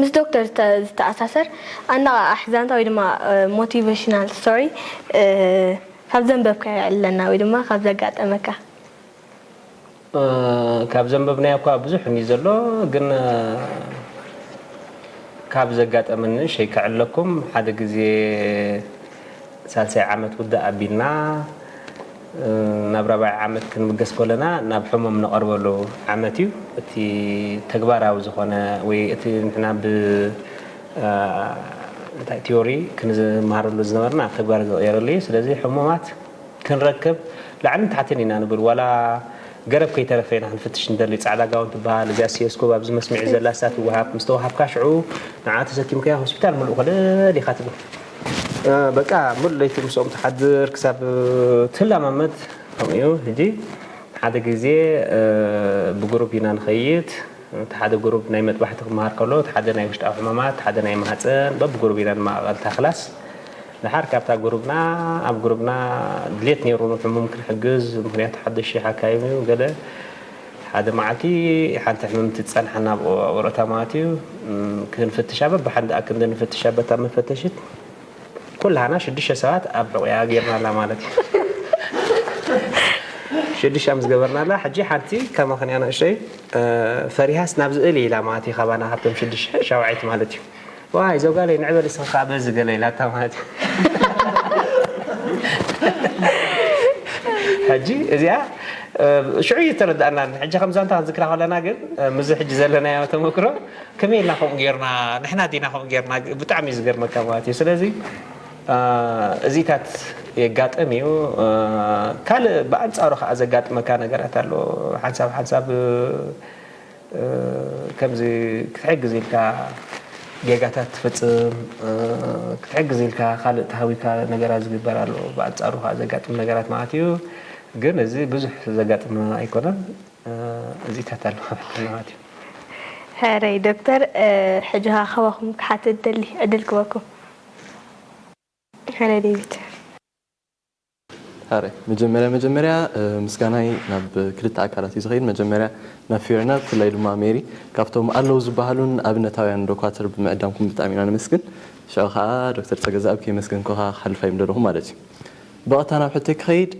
ምስ ዶክተር ዝተኣሳሰር ኣነቓቓሒ ዛንታ ወይ ድማ ሞቲቨሽናል ስቶሪ ካብ ዘንበብካዮ ኣዕልለና ወይ ድማ ካብ ዘጋጠመካ። ካብ ዘንበብናዮ እኳ ብዙሕ እንድዩ ዘሎ ግን ካብ ዘጋጠመኒ ንእሽተይ ከዕልለኩም ሓደ ግዜ። ሳልሳይ ዓመት ውግእ ኣቢልና ናብ ራብዓይ ዓመት ክንብገስ ከሎና ናብ ሕሙም ንቐርበሉ ዓመት እዩ። እቲ ተግባራዊ ዝኾነ ወይ እቲ ንሕና ብ እንታይ ቲዮሪ ክንመሃረሉ ዝነበርና ኣብ ተግባር ዝቕየረሉ እዩ። ስለዚ ሕሙማት ክንረክብ ላዕልን ታሕትን ኢና ንብል ዋላ ገረብ ከይተረፈ ኢና ክንፍትሽ ንደሊ። ጻዕዳ ጋውን ትበሃል እዚኣ ሲዮስኮብ ኣብዚ መስምዒ ዘላ እሳ ትወሃብ። ምስ ተወሃብካ ሽዑ ንዓ ተሰኪምካዮ ሆስፒታል ምሉእ ኮለል ኢኻ ትብል። በቃ ሙሉእ ለይቲ ምስኦም ትሓድር ክሳብ ትላማመድ ከምኡ እዩ ሕጂ ሓደ ግዜ ብጉሩብ ኢና ንኸይድ እቲ ሓደ ጉሩብ ናይ መጥባሕቲ ክመሃር ከሎ እቲ ሓደ ናይ ውሽጣዊ ሕማማት እቲ ሓደ ናይ ማህጸን በብጉሩብ ኢና ንመቓቐል እታ ክላስ ደሓር ካብታ ጉሩብና ኣብ ጉሩብና ድሌት ኔሩ ንሕሙም ክንሕግዝ ምኽንያቱ ሓደሽ ሓካይም እዩ ገለ ሓደ መዓልቲ ሓንቲ ሕምምቲ ትጸንሓና ኣብ ወረታ ማለት እዩ ክንፍትሻ በብሓንቲ ኣክንዲ ንፍትሻ በታ መፈተሽት ኩላህና ሽዱሽተ ሰባት ኣብ ሕቑያ ጌርናላ ማለት እዩ ሽዱሽተ ምስ ገበርናላ ሕጂ ሓንቲ ከማኽን እያ ንእሽተይ ፈሪሃስ ናብዚ እልይ ኢላ ማለት እዩ ካባና ካብቶም ሽዱሽተ ሻውዐይቲ ማለት እዩ ዋይ ዞጋለይ ንዕ በል እስኺ ካኣ በዚ ገለ ኢላታ ማለት ሕጂ እዚኣ ሽዑ እዩ ዝተረዳኣና ሕጂ ከም ዛንታ ክንዝክራ ከለና ግን ምዚ ሕጂ ዘለናዮ ተመክሮ ከመይ ኢልና ከምኡ ጌርና ንሕና ዲና ከምኡ ጌርና ብጣዕሚ እዩ ዝገርመካ ማለት እዩ ስለዚ እዚታት የጋጥም እዩ ካልእ ብኣንጻሩ ከዓ ዘጋጥመካ ነገራት ኣሎ ሓንሳብ ሓንሳብ ከምዚ ክትሕግዝ ኢልካ ጌጋታት ትፍጽም፣ ክትሕግዝ ኢልካ ካልእ ተሃዊካ ነገራት ዝግበር ኣሎ፣ ብኣንጻሩ ከኣ ዘጋጥም ነገራት መዓት እዩ፣ ግን እዚ ብዙሕ ዘጋጥም ኣይኮነን፣ እዚታት ኣሎ ማለት እዩ። ሕራይ ዶክተር ሕጂ ከኣ ካባኩም ክሓትት እደሊ ዕድል ክበኩም። ሕራይ ዴቪድ። ኣረ መጀመርያ መጀመርያ ምስጋናይ ናብ ክልተ ኣካላት እዩ ዝኸይድ መጀመርያ ናብ ፊዮና ብፍላይ ድማ ሜሪ ካብቶም ኣለው ዝበሃሉን ኣብነታውያን ዶኳትር ብምዕዳምኩም ብጣዕሚ ኢና ነመስግን ሽዑ ከኣ ዶክተር ጸገዝኣብ ከይመስገንኩኻ ክሓልፍ ኣይምደለኹን ማለት እዩ ብቐጥታ ናብ ሕቶይ ክኸይድ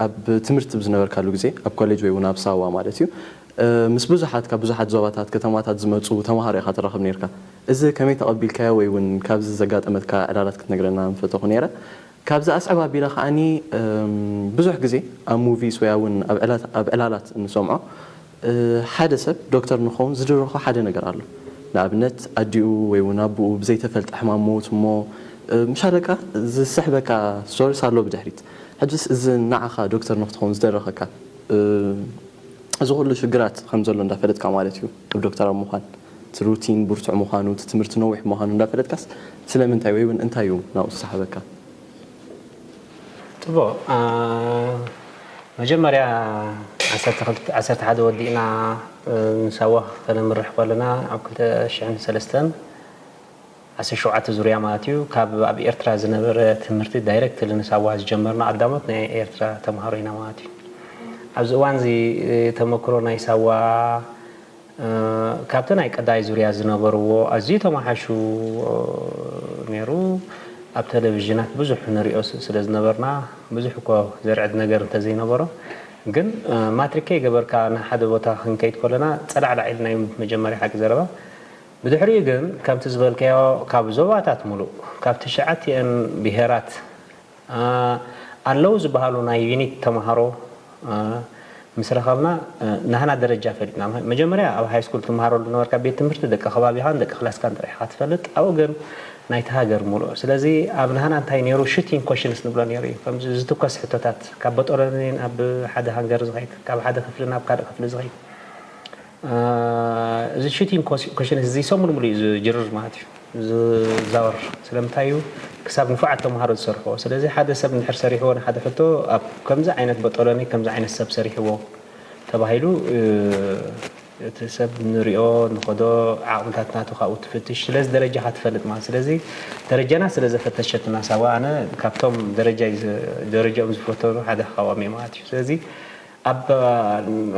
ኣብ ትምህርቲ ብ ዝነበርካሉ ግዜ ኣብ ኮሌጅ ወይ እውን ኣብ ሳዋ ማለት እዩ ምስ ብዙሓት ካብ ብዙሓት ዞባታት ከተማታት ዝመጹ ተማሃሮ ኢኻ ትራኸብ ኔርካ እዚ ከመይ ተቐቢልካዮ ወይ እውን ካብዚ ዘጋጠመትካ ዕላላት ክትነግረና ምፈተኹ ኔረ ካብዚ ኣስዕብ ኣቢለ ከኣ ብዙሕ ግዜ ኣብ ሙቪስ ወይ ኣውን ኣብ ዕላላት እንሰምዖ ሓደ ሰብ ዶክተር ንክኸውን ዝድርኾ ሓደ ነገር ኣሎ ንኣብነት ኣዲኡ ወይ እውን ኣቡኡ ብዘይተፈልጠ ሕማም ሞት እሞ ምሻለቃ ዝስሕበካ ስቶርስ ኣሎ ብድሕሪት ሕጅስ እዚ ንዓኻ ዶክተር ንክትኸውን ዝደረኸካ እዚ ኩሉ ሽግራት ከምዘሎ እንዳፈለጥካ ማለት እዩ ዶክተር ኣብ ምዃን እቲ ሩቲን ብርቱዕ ምዃኑ፣ እቲ ትምህርቲ ነዊሕ ምዃኑ እንዳፈለጥካስ ስለምንታይ ወይ ውን እንታይ እዩ ናብኡ ዝሰሓበካ? ጽቡቕ መጀመርያ ዓሰርተ ክልተ ዓሰርተ ሓደ ወዲእና ምስ ኣዋክ ከነምርሕ ከለና ኣብ ክልተ ሽሕን ሰለስተን ዓሰርተ ሸውዓተ ዙርያ ማለት እዩ ካብ ኣብ ኤርትራ ዝነበረ ትምህርቲ ዳይረክትሊ ምስ ኣዋክ ዝጀመርና ቀዳሞት ናይ ኤርትራ ተማሃሮ ኢና ማለት እዩ። ኣብዚ እዋንዚ ተመክሮ ናይ ሳዋ ካብቲ ናይ ቀዳይ ዙርያ ዝነበርዎ ኣዝዩ ተማሓይሹ ነይሩ። ኣብ ተለቪዥናት ብዙሕ ንሪኦ ስለ ዝነበርና ብዙሕ እኮ ዘርዕድ ነገር እንተ ዘይነበሮ ግን ማትሪክ ከይገበርካ ናብ ሓደ ቦታ ክንከይድ ከሎና ጸላዕላዕ ኢልና እዩ መጀመርያ ሓቂ ዘረባ ብድሕሪኡ ግን ከምቲ ዝበልካዮ ካብ ዞባታት ምሉእ ካብ ትሽዓቲኣን ብሄራት ኣለው ዝበሃሉ ናይ ዩኒት ተምሃሮ ምስ ረኸብና ናህና ደረጃ ፈሊጥና። መጀመርያ ኣብ ሃይስኩል ትምሃረሉ ዝነበርካ ቤት ትምህርቲ ደቂ ከባቢኻን ደቂ ክላስካን ጥራሕ ኢኻ ትፈልጥ ኣብኡ ግን ናይቲ ሃገር ምሉእ ስለዚ ኣብ ናህና እንታይ ኔሩ ሹቲንግ ኮሽንስ ንብሎ ኔሩ እዩ ከምዚ ዝትኮስ ሕቶታት ካብ በጦሎኒን ኣብ ሓደ ሃንገር ዝኸይድ ካብ ሓደ ክፍሊ ናብ ካልእ ክፍሊ ዝኸይድ እዚ ቺቲንግ ኮሽንስ እዚ ሰሙን ሙሉእ እዩ ዝጅርር ማለት እዩ ዝዛወር ስለምንታይ እዩ ክሳብ ንፉዓት ተምሃሮ ዝሰርሕዎ ስለዚ ሓደ ሰብ እንድሕር ሰሪሕዎ ንሓደ ሕቶ ኣብ ከምዚ ዓይነት በጦሎኒ ከምዚ ዓይነት ሰብ ሰሪሕዎ ተባሂሉ እቲ ሰብ ንሪኦ ንኸዶ ዓቕምታት ናቱ ካብኡ ትፍትሽ ስለዚ ደረጃኻ ትፈልጥ ማለት ስለዚ ደረጃና ስለ ዘፈተሸትና ሳዋ ኣነ ካብቶም ደረጃ ደረጃኦም ዝፈተኑ ሓደ ካብኦም እየ ማለት እዩ ስለዚ ኣብ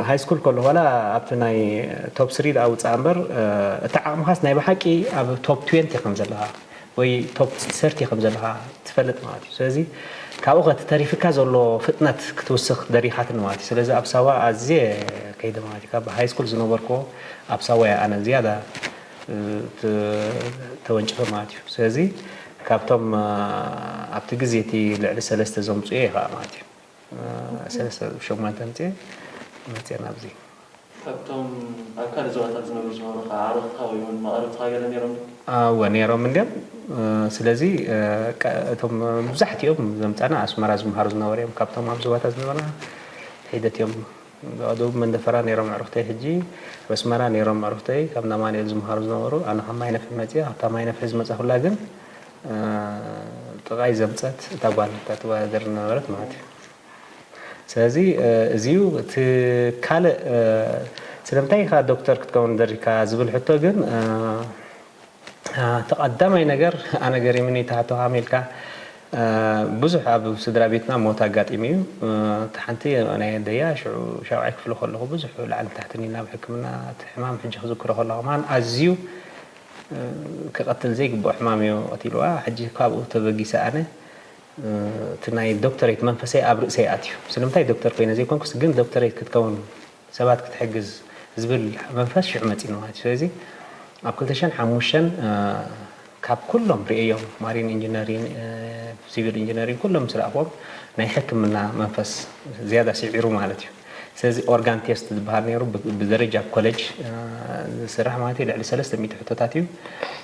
ሃይስኩል ከለኹ ዋላ ኣብቲ ናይ ቶፕ ስሪ ደኣ ውጻእ እምበር እቲ ዓቕምኻስ ናይ ብሓቂ ኣብ ቶፕ ትዌንቲ ከም ዘለኻ ወይ ቶፕ ሰርቲ ከም ዘለኻ ትፈልጥ ማለት እዩ። ስለዚ ካብኡ ከ እቲ ተሪፍካ ዘሎ ፍጥነት ክትውስኽ ደሪኻትኒ ማለት እዩ። ስለዚ ኣብ ሳዋ ኣዝየ ከይደ ማለት እዩ። ካብ ሃይስኩል ዝነበርኩዎ ኣብ ሳዋ እየ ኣነ ዝያዳ ተወንጭፈ ማለት እዩ። ስለዚ ካብቶም ኣብቲ ግዜ እቲ ልዕሊ ሰለስተ ዘምጽኡ እየ ከኣ ማለት እዩ። ሰለስተ ሸሞንተ ኣምጺኤ መጺኤ ናብዚ። ካብቶም ኣብ ካልእ ዞባታት ዝነብሩ ዝነበሩኻ ኣዕሩኽትካ ወይ እውን መቓርብትኻ ገለ ነይሮም ዶ? እወ ነይሮም እንድዮም። ስለዚ እቶም መብዛሕትኦም ዘምጻና ኣስመራ ዝመሃሩ ዝነበሩ እዮም። ካብቶም ኣብ ዞባታት ዝነበርና ሒደት እዮም። ኣብ ደቡብ መንደፈራ ነይሮም ኣዕሩኽተይ ሕጂ ኣብ ኣስመራ ነይሮም ኣዕሩኽተይ ካብ እንዳ ኣማኑኤል ዝመሃሩ ዝነበሩ። ኣነ ካብ ማይነፍሒ መጺኣ። ካብታ ማይነፍሒ ዝመጻኹላ ግን ጥቃይ ዘምጸት እታ ጓል እታ ትወዳደር ዝነበረት ማለት እዩ ስለዚ እዚዩ እቲ ካልእ ስለምንታይ ኢኻ ዶክተር ክትከውን ደሪካ ዝብል ሕቶ ግን እቲ ቀዳማይ ነገር ኣነ ገሪሙኒ እቲ ሕቶ ከመይ ኢልካ ብዙሕ ኣብ ስድራ ቤትና ሞት ኣጋጢሙ እዩ እቲ ሓንቲ ናይ ኣደያ ሽዑ ሻብዓይ ክፍሊ ከለኹ ብዙሕ ላዕልን ታሕትን ኢልና ኣብ ሕክምና እቲ ሕማም ሕጂ ክዝክሮ ከለኹ ማን ኣዝዩ ክቀትል ዘይግብኦ ሕማም እዮ ቀቲልዋ ሕጂ ካብኡ ተበጊሰ ኣነ እቲ ናይ ዶክተረይት መንፈሰይ ኣብ ርእሰይ ኣትዩ ስለምንታይ ዶክተር ኮይነ ዘይኮንኩስ ግን ዶክተረይት ክትከውን ሰባት ክትሕግዝ ዝብል መንፈስ ሽዑ መጺኒ ማለት እዩ ስለዚ ኣብ ክልተ ሽሕን ሓሙሽተን ካብ ኩሎም ርእየዮም ማሪን ኢንጂነሪን ሲቪል ኢንጂነሪን ኩሎም ምስ ረኣኽዎም ናይ ሕክምና መንፈስ ዝያዳ ስዒሩ ማለት እዩ ስለዚ ኦርጋን ቴስት ዝበሃል ነይሩ ብደረጃ ኮለጅ ዝስራሕ ማለት እዩ ልዕሊ ሰለስተ ሚእቲ ሕቶታት እዩ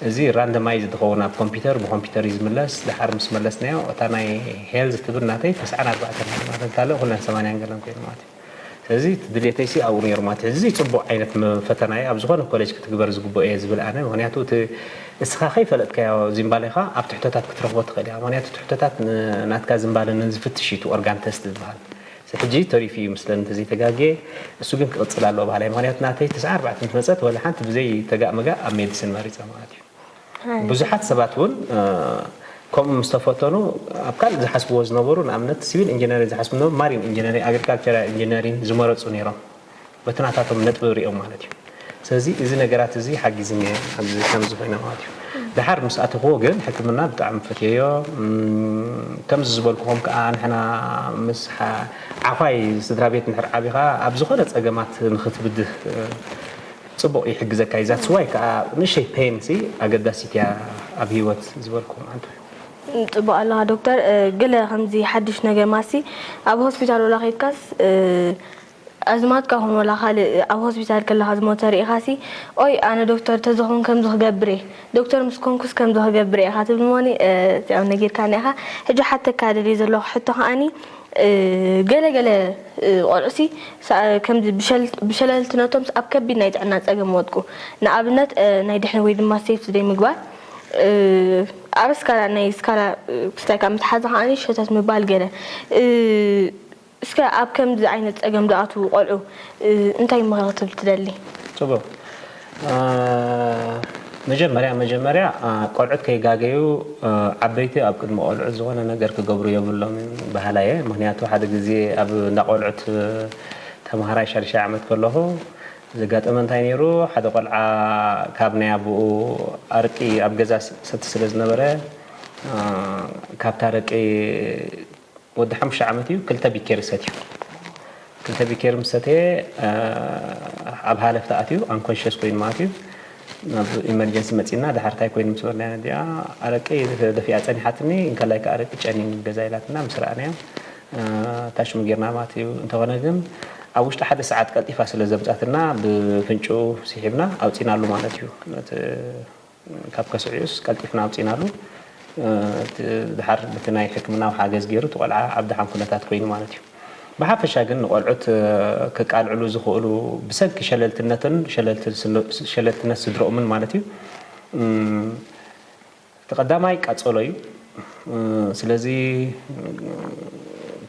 እዚ ራንደማይዝ ዝኸውን ኣብ ኮምፒውተር ብኮምፒውተር እዩ ዝምለስ ድሓር ምስ መለስናዮ እታ ናይ ሄልዝ ትብል ናተይ ተስዓን ኣርባዕተን ነይሩ ማለት ካልእ ኩለን ሰማንያን ገለን ኮይኑ ማለት እዩ ስለዚ እቲ ድሌተይ ሲ ኣብኡ ነይሩ ማለት እዚ ፅቡቅ ዓይነት ፈተና እዩ ኣብ ዝኾነ ኮሌጅ ክትግበር ዝግብኦ እየ ዝብል ኣነ ምክንያቱ እቲ እስኻ ከይፈለጥካዮ ዚምባሌኻ ኣብ ትሕቶታት ክትረኽቦ ትኽእል እያ ምክንያቱ ትሕቶታት ናትካ ዝምባለ ንዝፍትሽ እዩ እቲ ኦርጋን ተስት ዝበሃል ሕጂ ተሪፉ እዩ ይምስለኒ እንተዘይተጋግየ እሱ ግን ክቅጽል ኣለዎ በሃላይ ምክንያቱ ናተይ ትስዓ ኣርባዕተ ምስ መጸት ወላ ሓንቲ ብዘይ ተጋእ መጋእ ኣብ ሜድስን መሪጸ ማለት እዩ ብዙሓት ሰባት እውን ከምኡ ምስ ተፈተኑ ኣብ ካልእ ዝሓስብዎ ዝነበሩ ንኣብነት ሲቪል ኢንጂነሪን ዝሓስቡ ዝነበሩ ማሪን ኢንጂነሪን ኣግሪካልቸራል ኢንጂነሪን ዝመረጹ ነይሮም በቲ ናታቶም ነጥቢ ሪኦም ማለት እዩ ስለዚ እዚ ነገራት እዚ ሓጊዝኒ ኣብዚ ከምዚ ኮይነ ማለት እዩ ድሓር ምስ ኣተኽዎ ግን ሕክምና ብጣዕሚ ፈትየዮ ከምዚ ዝበልኩኹም ከዓ ንሕና ምስ ዓዃይ ስድራ ቤት ንድሕር ዓቢኻ ኣብ ዝኾነ ፀገማት ንኽትብድህ ፅቡቕ ይሕግዘካ እዩ ዛትስ ዋይ ከዓ ንእሸይ ፔን ሲ ኣገዳሲት እያ ኣብ ሂወት ዝበልኩ ማለት እዩ ጽቡቅ ኣለኻ ዶክተር ግለ ከምዚ ሓድሽ ነገማሲ ኣብ ሆስፒታል ወላ ከይድካስ ኣዝማድካ ኹን ወላ ካልእ ኣብ ሆስፒታል ከለኻ ዝሞተ ርኢኻሲ ኦይ ኣነ ዶክተር ተዝኾን ከምዚ ክገብርየ ዶክተር ምስ ኮንኩስ ከምዚ ክገብርየ ኢኻ ትብል እሞኒ እዚኣም ነጊርካኒ ኢኻ ሕጂ ክሓተካ ደልየ ዘለኹ ሕቶ ከኣኒ ገለ ገለ ቆልዑሲ ከምዚ ብሸለልትነቶምስ ኣብ ከቢድ ናይ ጥዕና ጸገም ይወድቁ ንኣብነት ናይ ድሕን ወይ ድማ ሴፍቲ ዘይ ምግባር ኣብ ስካላ ናይ ስካላ ክስታይካ ምትሓዝ ከኣኒ ሸተት ምባል ገለ እስከ ኣብ ከምዚ ዓይነት ጸገም ዝኣትዉ ቆልዑ እንታይ ምኽሪ ክትህብ ትደሊ? ጽቡቕ። መጀመርያ መጀመርያ ቆልዑት ከይጋገዩ ዓበይቲ ኣብ ቅድሚ ቆልዑት ዝኾነ ነገር ክገብሩ የብሎምን በሃላይ እየ። ምኽንያቱ ሓደ ግዜ ኣብ እንዳ ቆልዑት ተምሃራይ ሻድሻይ ዓመት ከለኹ ዘጋጠመ እንታይ ነይሩ ሓደ ቆልዓ ካብ ናይ ኣቡኡ ኣርቂ ኣብ ገዛ ይሰቲ ስለ ዝነበረ ካብቲ ኣረቂ ወዲ ሓሙሽተ ዓመት እዩ ክልተ ቢኬሪ ሰትዩ ክልተ ቢኬሪ ምስ ሰተየ ኣብ ሃለፍቲ ኣትዩ ኣንኮንሽስ ኮይኑ ማለት እዩ ናብ ኢመርጀንሲ መፂና ድሓር እንታይ ኮይኑ ምስ በልናያ እዚኣ ኣረቂ ደፊኣ ፀኒሓትኒ እንከላይ ከዓ ኣረቂ ጨኒን ገዛ ኢላትና ምስ ረኣናዮ ታሽሙ ጌርና ማለት እዩ እንተኾነ ግን ኣብ ውሽጢ ሓደ ሰዓት ቀልጢፋ ስለ ዘምፃትና ብፍንጩ ስሒብና ኣውፂናሉ ማለት እዩ ካብ ከስዕዩስ ቀልጢፍና ኣውጺእናሉ። እቲ ደሓር በቲ ናይ ሕክምናዊ ሓገዝ ገይሩ እቲ ቆልዓ ኣብ ደሓን ኩነታት ኮይኑ ማለት እዩ። ብሓፈሻ ግን ንቆልዑት ከቃልዕሉ ዝኽእሉ ብሰንኪ ሸለልትነትን ሸለልትነት ስድርኦምን ማለት እዩ እቲ ቀዳማይ ቃጸሎ እዩ። ስለዚ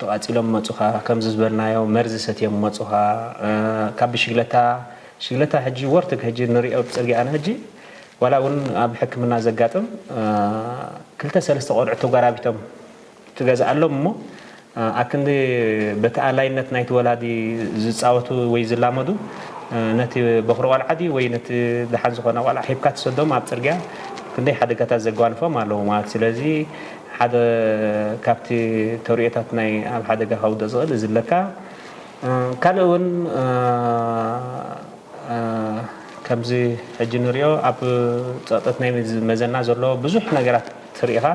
ተቓጺሎም መጹኻ ከምዚ ዝበልናዮ መርዚ ሰትዮም መጹኻ ካብ ብሽግለታ ሽግለታ ሕጂ ወርትግ ሕጂ ንሪኦ ብጽርግያና ሕጂ ዋላ እውን ኣብ ሕክምና ዘጋጥም ክልተ ሰለስተ ቆልዑት ተጓራቢቶም ትገዝኣሎም እሞ ኣክንዲ በቲ ኣላይነት ናይቲ ወላዲ ዝጻወቱ ወይ ዝላመዱ ነቲ በኹሪ ቆልዓ ድዩ ወይ ነቲ ደሓን ዝኾነ ቆልዓ ሂብካ ትሰዶም ኣብ ጽርግያ ክንደይ ሓደጋታት ዘጓንፎም ኣለዉ ማለት ስለዚ ሓደ ካብቲ ተርእዮታት ናይ ኣብ ሓደጋ ከውድቕ ዝኽእል እዚ ለካ ካልእ እውን ከምዚ ሕጂ ንሪኦ ኣብ ፀቕጥት ናይ መዘና ዘሎ ብዙሕ ነገራት ትርኢኻ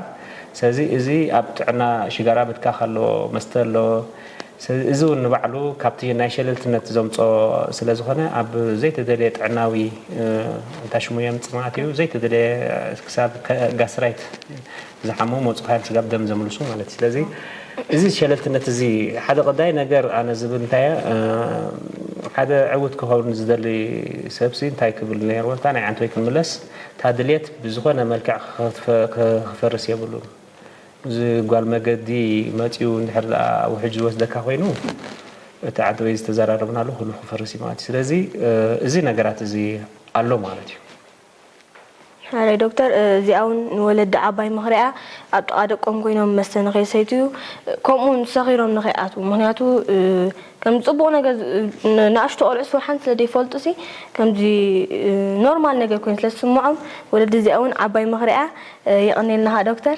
ስለዚ እዚ ኣብ ጥዕና ሽጋራ ምትካኽ ኣሎ መስተ ኣሎ ስለዚ እዚ እውን ንባዕሉ ካብቲ ናይ ሸለልትነት ዘምፆ ስለዝኾነ ኣብ ዘይተደለየ ጥዕናዊ እንታይ ሽሙ የምፅ ማለት እዩ ዘይተደለየ ክሳብ ጋስትራይት ዝሓመሙ ወጽ ሓይል ስጋብ ደም ዘምልሱ ማለት እዩ ስለዚ እዚ ሸለልትነት እዚ ሓደ ቀዳይ ነገር ኣነ ዝብል እንታይ ሓደ ዕውት ክኸውን ዝደሊ ሰብሲ እንታይ ክብል ነይርዎ እታ ናይ ዓንተወይ ክንምለስ እታ ድሌት ብዝኾነ መልክዕ ክፈርስ የብሉን እዚ ጓል መገዲ መጺኡ እንድሕር ደኣ ውሕጅ ዝወስደካ ኮይኑ እቲ ዓንተወይ ዝተዘራረብናሉ ኩሉ ክፈርስ እዩ ማለት እዩ ስለዚ እዚ ነገራት እዚ ኣሎ ማለት እዩ ኣረ ዶክተር እዚኣ ውን ንወለዲ ዓባይ ምኽሪ እያ ኣብ ጥቃ ደቆም ኮይኖም መስተ ንከይሰትዩ ከምኡ ውን ሰኺሮም ንከይኣትዉ ምኽንያቱ ከም ጽቡቅ ነገር ንኣሽቱ ቆልዑ ስውሓን ስለ ዘይፈልጡ ሲ ከምዚ ኖርማል ነገር ኮይኑ ስለ ዝስምዖም ወለዲ እዚኣ ውን ዓባይ ምኽሪ እያ የቀኔልና ከኣ ዶክተር